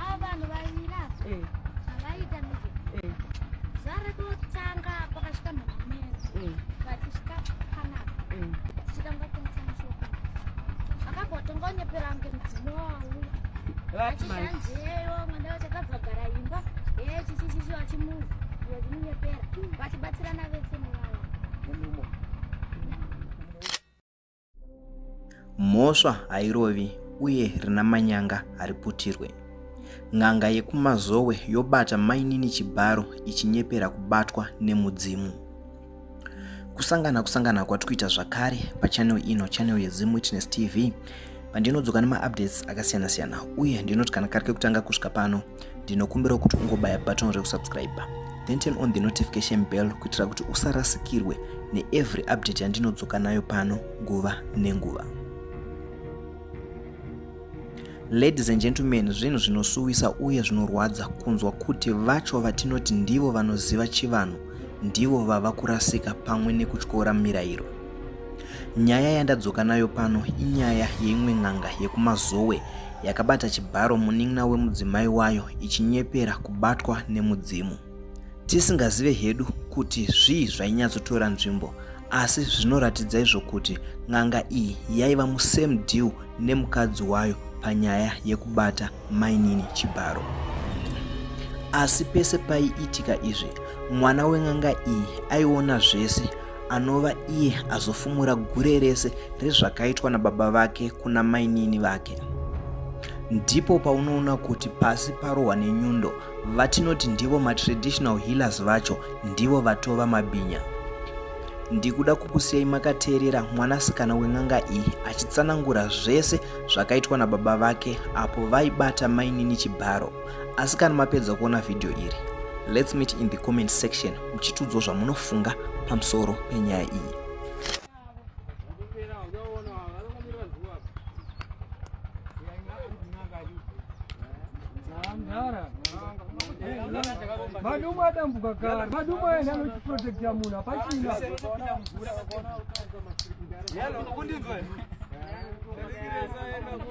Ava vanhu vaviri ava Eh, zvavaiita ndezve eh, zvare kutanga pakasvika mhamamene eh, vachisvika panapa eh. tichitanga kutengesa mishonga vakambotanga kunyepera kunge mudzimu wavo Right, man. achishanzeyo mwenda vachakabva gara imba ee chichichichi vachimuva vachimunyepera vachibatsirana vese muvavo Mumumo. Mhosva hairovi uye rina manyanga hariputirwe. N'anga yekumazowe yobata mainini chibharo ichinyepera kubatwa nemudzimu. Kusangana kusangana kwati kuita zvakare pachanel ino chanel yeZim Witness TV pandinodzoka nemaupdates akasiyana siyana uye ndinoti kana kari kekutanga kusvika pano ndinokumbira kuti ungobaya button rekusubscribe then turn on the notification bell kuitira kuti usarasikirwe neevery update yandinodzoka nayo pano nguva nenguva ladies and gentlemen zvinhu zvinosuwisa uye zvinorwadza kunzwa kuti vacho vatinoti ndivo vanoziva chivanhu ndivo vava kurasika pamwe nekutyora mirayiro Nyaya yandadzoka nayo pano inyaya yeimwe n'anga yekumazowe yakabata chibharo munin'ina wemudzimai wayo ichinyepera kubatwa nemudzimu tisingazive hedu kuti zvii zvainyatsotora nzvimbo asi zvinoratidza izvo kuti n'anga iyi yaiva musame deal nemukadzi wayo panyaya yekubata mainini chibharo asi pese paiitika izvi mwana wen'anga iyi aiona zvese anova iye azofumura gure rese rezvakaitwa nababa vake kuna mainini vake ndipo paunoona kuti pasi parohwa nenyundo vatinoti ndivo matraditional healers vacho ndivo vatova mabhinya ndikuda kukusiyai makateerera mwanasikana wen'anga iyi achitsanangura zvese zvakaitwa nababa vake apo vaibata mainini chibharo asi kana mapedza kuona vhidhiyo iri let's meet in the comment section muchitiudzwa zvamunofunga pamusoro penyaya iyi madumbu adambuka kare madumbu aenda anochiprotekta munhu hapachina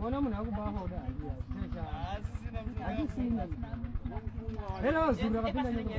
Kona munhu akubafa kuda handisina. Hera wazura kapinda nyika.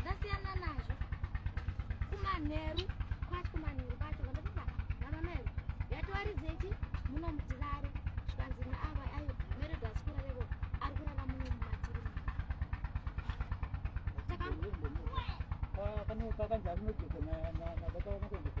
ndasiyana nazvo kumanheru kwati kumanheru kwacho ndokuba namamai yatoarizechi muno mutirare zvikanzi naava ayo meredo asikura revo ari kurara muno mumatiri takanzaainojoka nabakaona kuendesa